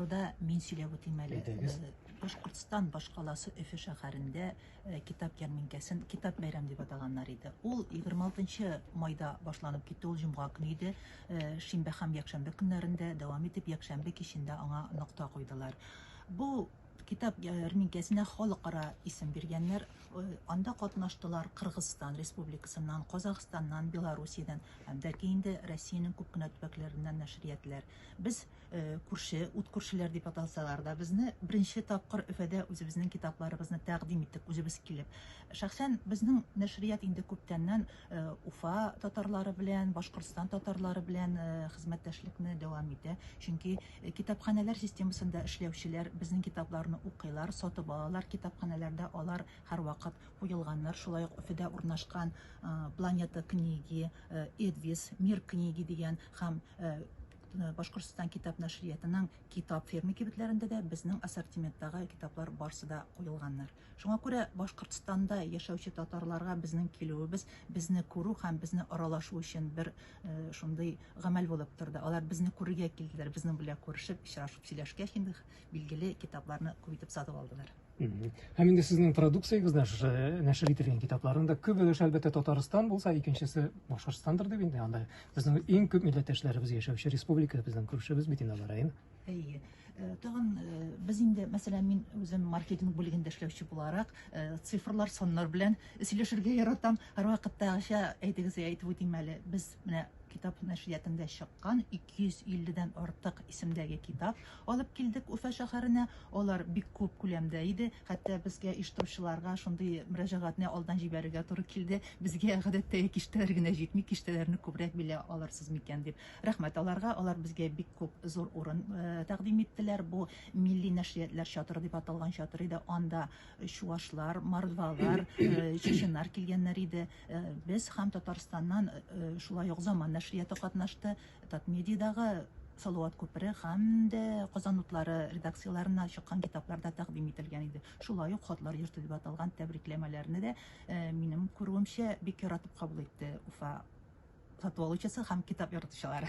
Турыда мин сөйләп үтим әле. Әйдәгез. Башкортстан башкаласы Өфе шәһәрендә китап ярминкәсен Китап бәйрәм дип атаганнар иде. Ул 26 майда башланып китте, ул җомга көне иде. Шимбә һәм якшәмбе көннәрендә дәвам итеп, якшәмбе кичендә аңа нокта куйдылар. Бу китап ярминкәсенә халыкара исем биргәннәр. Анда катнаштылар Кыргызстан Республикасыннан, Казахстаннан, Белоруссиядән һәм дә ки инде Россиянең күп кенә төбәкләреннән нәшриятләр. Без Күрше, ут күршеләр дип аталсалар да, безне беренче тапкыр Өфәдә үзебезнең китапларыбызны тәкъдим иттек, үзебез килеп. Шәхсән безнең нәшрият инде күптәннән Уфа татарлары белән, Башкортстан татарлары белән хезмәттәшлекне дәвам итә. Чөнки китапханәләр системасында эшләүчеләр безнең китапларны укыйлар, сатып алалар, китапханәләрдә алар һәрвакыт куелганнар. Шулай ук Өфәдә урнашкан Планета книги, Эдвис, Мир книги дигән һәм Башкортстан китап нәшриятының Китап фермы кибетләрендә дә безнең ассортименттагы китаплар барсы да куелганнар. Шуңа күрә Башкортстанда яшәүче татарларга безнең килүебез безне күрү һәм безне аралашу өчен бер шундый гамәл булып торды. Алар безне күрергә килделәр, безнең белән күрешеп, очрашып сөйләшкәч инде, билгеле, китапларны күп итеп сатып алдылар. Һәм инде сезнең продукциягездә шушы нәшер ителгән китапларның да күп өлеше әлбәттә Татарстан булса, икенчесе Башкортостандыр дип инде анда безнең иң күп милләттәшләребез яшәүче республика безнең күршебез бит инде алар район. Әйе. Э, тагын э, без инде, мәсәлән, мин үзем маркетинг бүлегендә эшләүче буларак, э, цифрлар, саннар белән сөйләшергә яратам. Һәрвакыттагыча әйтегезгә әйтеп үтим әле. Без менә китап нәшриятында чыккан 250 дән артык исемдәге китап Алып килдек Уфа шәһәренә. Алар бик күп күләмдә иде. Хәтта безгә, оештыручыларга, шундый мөрәҗәгатьне алдан җибәрергә туры килде, Безгә, гадәттәге киштәләр генә җитми, киштәләрне күбрәк били алырсыз микән? дип. Рәхмәт аларга, алар безгә бик күп зур урын тәкъдим иттеләр. Бу милли нәшриятләр чатыры дип аталган чатыр иде. Анда чуашлар, мордвалар, чеченнар килгәннәр иде. Без һәм Татарстаннан шулай ук Заман нәшрияты катнашты. Татмедиядагы Салават күпере һәм дә Казан утлары редакцияләреннән чыккан китаплар да тәкъдим ителгән иде. Шулай ук Хатлар йорты дип аталган тәбрикләмәләрне дә, минем күрүемчә, бик яратып кабул итте Уфа сату алучысы һәм китап яратучылары.